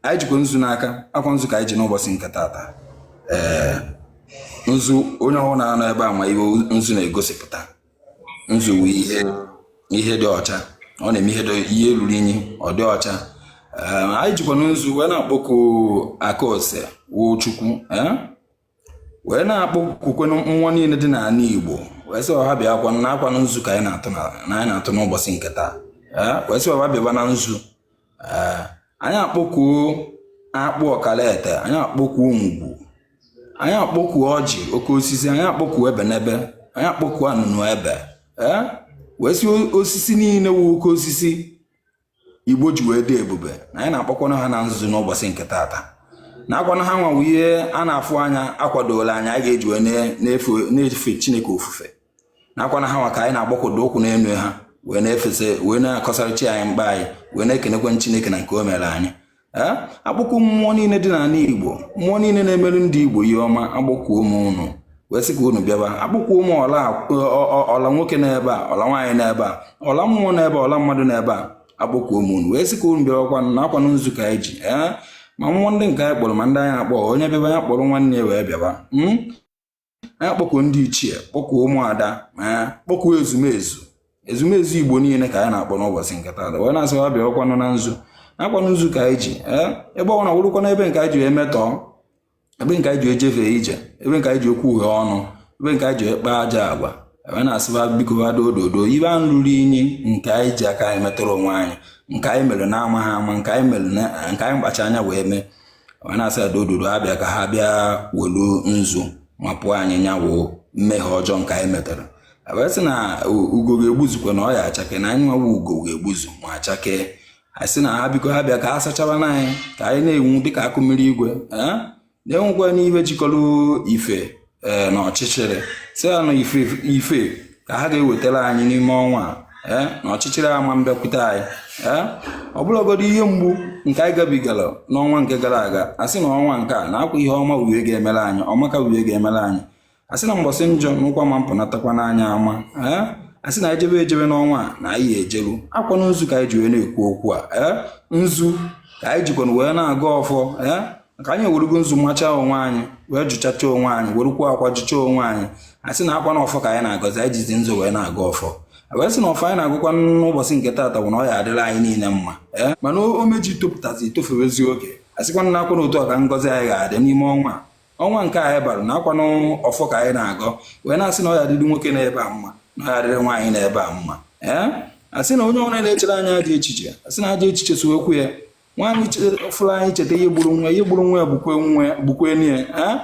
anyị jikwa nzu n'aka akwa nzu ka anyị ji n'ụbọsị nke taata ee nzu onye ọwụna nọ ebe a ma ihe nzu na-egosipụta nzu bụ ihe ihe dị ọcha ọ na-eme ihe dị- ihe ruru unyi ọ dị ọcha Ee, anyị jikwa nzu wee na-akpọku aka ose wụ chukwu ee wee na-akpọkukwa mmụọ niile dị n'ala Igbo wee sị ha bịa akwa na akwa na nzu ka anyị na-atụ na anyị na-atụ n'ụbọsị nke taa wee sị ha bịaba na nzu anyị akpọkuo akpụ ọkara ete anyị akpọkuo ngwu anyị akpọkuo ọjị oke osisi anyị akpọkuo ebenebe anyị akpọkuo anụnụebe wee sị osisi niile wụ oke osisi igbo ji wee dị ebube na anyị na-akpọkwanụ ha na nzu n'ụbọsị nke taata na akwanụ ha nwa wụ ihe a na-afụ anya akwadola anya anyị ga-eji wee na-efe chineke ofufe na akwana ha nwa ka anyị na-agbakwado ụkwụ n'elu ha wee na-efesa wee na-akọsara chi anyị mkpa anyị wee na-ekenekwanụ chineke na nke o mere anyị akpọkuo mmụọ niile dị n'ala Igbo mmụọ niile na-emeru ndị Igbo ihe ọma akpọkuo m unu wee sị ka unu bịaba akpọkuo m ọla nwoke n'ebe a ọla nwaanyị n'ebe a ọla mmụọ n'ebe ọla mmadụ n'ebe a akpọkuo m unu wee sị ka unu bịabakwa na akwanụ nzu ka anyị ji ma mmụọ ndị nke anyị kpọrọ ma ndị anyị akpọ onye bịaba ya kpọrọ nwanne ya wee bịaba hmm? anyị kpọkuo ndị ichie kpọkuo ụmụada ma ya kpọkuo ezumezu ezumezu igbo niile ka anyị na-akpọ n'ụbọsị nke taata wee na-asị ha bịa ọkwanụ na nzu akwanụ nzu ka anyị ji ee ebe ọbụla wụrụkwa n'ebe nke anyị ji emetọọ ebe nke anyị ji ejefe ije ebe nke anyị ji ekwuhe ọnụ ebe nke anyị ji akpa ajọ agwa wee na-asị ha biko ha dododo ebe anyị ruru inyi nke anyị ji aka anyị metọrọ onwe anyị nke anyị mere na-amaghị ama nke anyị mere nke anyị kpacha anya wee mee wee na-asị ha dododo ha bịa ka ha bịa welu nzu mapụ anyị nya wụ mmehie ọjọọ nke anyị metara wee sị na ugo ga-egbuzukwa na ọ ya achake na anyị nwa wụ ugo ga-egbuzu ma achake anyị sị na ha biko ha bịa ka ha sachabanụ anyị ka anyị na-enwu dịka akụ mmiri igwe na-enwukwa n'ihe jikọrọ ife ee na ọchịchịrị sị na ife ife ka ha ga-ewetara anyị n'ime ọnwa a ee na ọchịchịrị ama abịakwute anyị ee ọ bụlagodi ihe mgbu nke anyị gabigara n'ọnwa nke gara aga asị na ọnwa nke a na akwa ihe ọma wụ ihe ga-emere anyị ọmaka wụ ihe ga-emere anyị asị na mbọsị njọ na ụkwụ ama apụtakwanụ anyị ama ee asị na ejebe ejebe n'ọnwa a na anyị ejeru akwa na nzu ka anyị ji wee na-ekwu okwu a ee nzu ka anyị jikwana wee na-agọ ọfọ ee maka anyị ewerugo nzu machaa onwe anyị wee jụchacha onwe anyị werukwa akwa jụcha onwe anyị a sị na akwa na ọfọ ka anyị na-agọzi anyị jizi nzu wee na-agọ ọfọ wee sị na ọfọ anyị na-agọkwa n'ụbọsị nke taata bụ na ọ ya adịla anyị niile mma ee mana o meji topụtazi etofewezi oge a sịkwa na akwa na otu a ka ngọzi anyị ga-adị n'ime ọnwa ọnwa nke anyị bara na akwa n'ọfọ ka anyị na-agọ wee na-asị na ọ ya adịrị nwoke n'ebe a mma na ọ ya adịrị nwaanyị n'ebe a mma ee asị na onye ọbụla na-echere anyị ajọ echiche asị na ajọ echiche sokwa ya nwaanyị fụrụ anyị cheta ihe gburu nwa ihe gburu nwa ya bụkwa nwa ya bụkwa enyi ya ee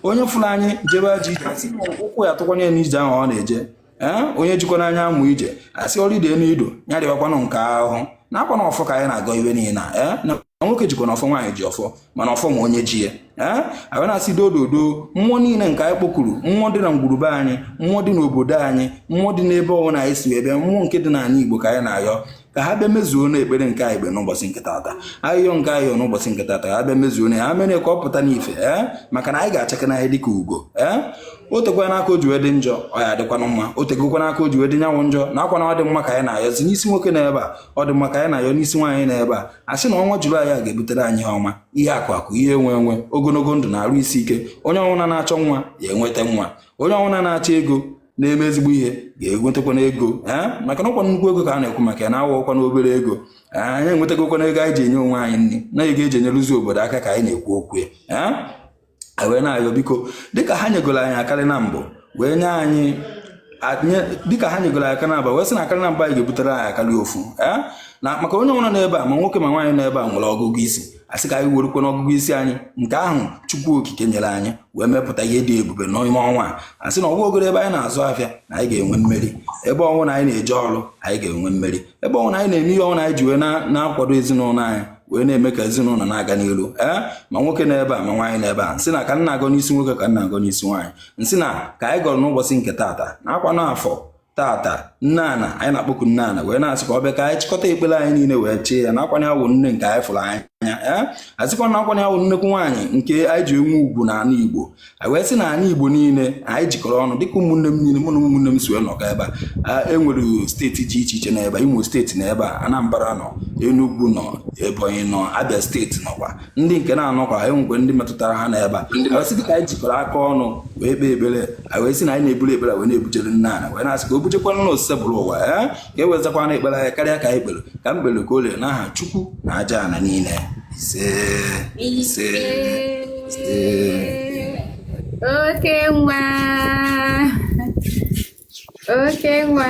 onye fụrụ anyị jebe ajọ ije asị na ụkwụ ya atụkwanye n'ije ahụ ọ na-eje ee onye jikwana anyị amụ ije asị ọrụ ide n'ido ya dịbakwanụ nke ahụ na ọkwa na ọfọ ka anyị na-agọ ihe niile na ee na nwoke jikwana ọfọ nwaanyị ji ọfọ mana ọfọ ma onye ji ya ee a bịa na-asị doo doo doo mmụọ niile nke anyị kpọkuru mmụọ dị na ngwuru be anyị mmụọ dị n'obodo anyị mmụọ dị n'ebe ọbụla anyị si wee bịa mmụọ nke dị n'ala Igbo ka anyị na-ayọ ka ha bịa mezuona ekpere nke anyị kpe n'ụbọchị nke tata ayịyọ nke anyị yọ n'ụbọchị nke tata ha bịa mezuona ya mere ka ọ pụta n'ife ee maka na anyị ga-achakee n'ahịa dịka ugo ee o tekwana aka o ji wee dị njọ ọ ya-adịkwanụ mma o tegokwana aka o ji wee dị nyanwụ njọ na ọkwa na ọ dị mma ka anyị na-ayọ si n'isi nwoke nọ ebe a ọ dị mma ka anyị na-ayọ n'isi nwaanyị nọ ebe a a sị na ọnwa julaị a ga-ebutere anyị ihe ọma ihe akụ akụ ihe enwe enwe ogologo ndụ na arụ isi ike onye ọwụna na-achọ nwa ya enweta nwa onye ọwụna na-achọ ego na-eme ezigbo ihe ga-enwetakwana ego ee maka na ọkwa nnukwu ego ka a na-ekwu maka ya na ọ bụrọkwana obere ego ee anyị enwetagokwana ego anyị ji enye onwe anyị nri na ego e ji enyerezi obodo aka ka anyị na-ekwu okwu ya ee e wee na-ayọ biko dịka ha nyegoro anyị akarị na mbụ wee nye anyị dịka ha nyegoro aka na-aba wee sị na akarị na mba anyị ga-ebutere anyị akarị ofu ee na maka onye ọwụna nọ ebe a ma nwoke ma nwaanyị nọ ebe a nwere ọgụgụ isi a sị ka anyị werukwana ọgụgụ isi anyị nke ahụ chukwu okike nyere anyị wee mepụta ihe dị ebube n'ime ọnwa a a sị na ọ bụgodu ebe anyị na-azụ afịa na anyị ga-enwe mmeri ebe ọwụna anyị na-eje ọrụ anyị ga-enwe mmeri ebe ọwụna anyị na-eme ihe ọwụna anyị ji wee na-akwado ezinụlọ anyị wee na-eme ka ezinụlọ na-aga n'elu ee ma nwoke nọ ebe a ma nwaanyị nọ ebe a m sị na ka m na-agọ n'isi nwoke ka m na-agọ n'isi nwaanyị m sị na ka anyị gọrọ n'ụbọchị nke taata na ọkwa na afọ tata nne ana anyị na-akpọku nne ana wee na-asị ka ọ bịa ka anyị chịkọta ekpere anyị niile wee chee ya n'akwanye awụ nne nke anyị fụrụ n'anya ee a sịkwa na akwanye awụ nnekwu nwaanyị nke anyị ji enwe ugwu na ala igbo anyị wee sị na ala igbo niile anyị jikọrọ ọnụ dịka ụmụnne m niile mụ na ụmụnne m si wee nọkọ ebe a e nwere steeti dị iche iche n'ebe imo steeti nọ ebe a anambra nọ enugwu nọ ebonyi nọ abia steeti nọkwa ndị nke na-anọkwa anyị nwekwara ndị metụtara ha nọ ebe a anyị sị ka anyị jikọrọ aka ọnụ wee kpee ekpere anyị wee sị na anyị na-eburu ekpere wee na-ebujere nna ala wee na-asị ka o bujekwana na osebụrụwa ya eh? ka e wee zakwana ekpere anyị karịa ka anyị kpere ka m kpere ka o lere n'aha chukwu na aja ala niile ise ise ise oke nwa oke nwa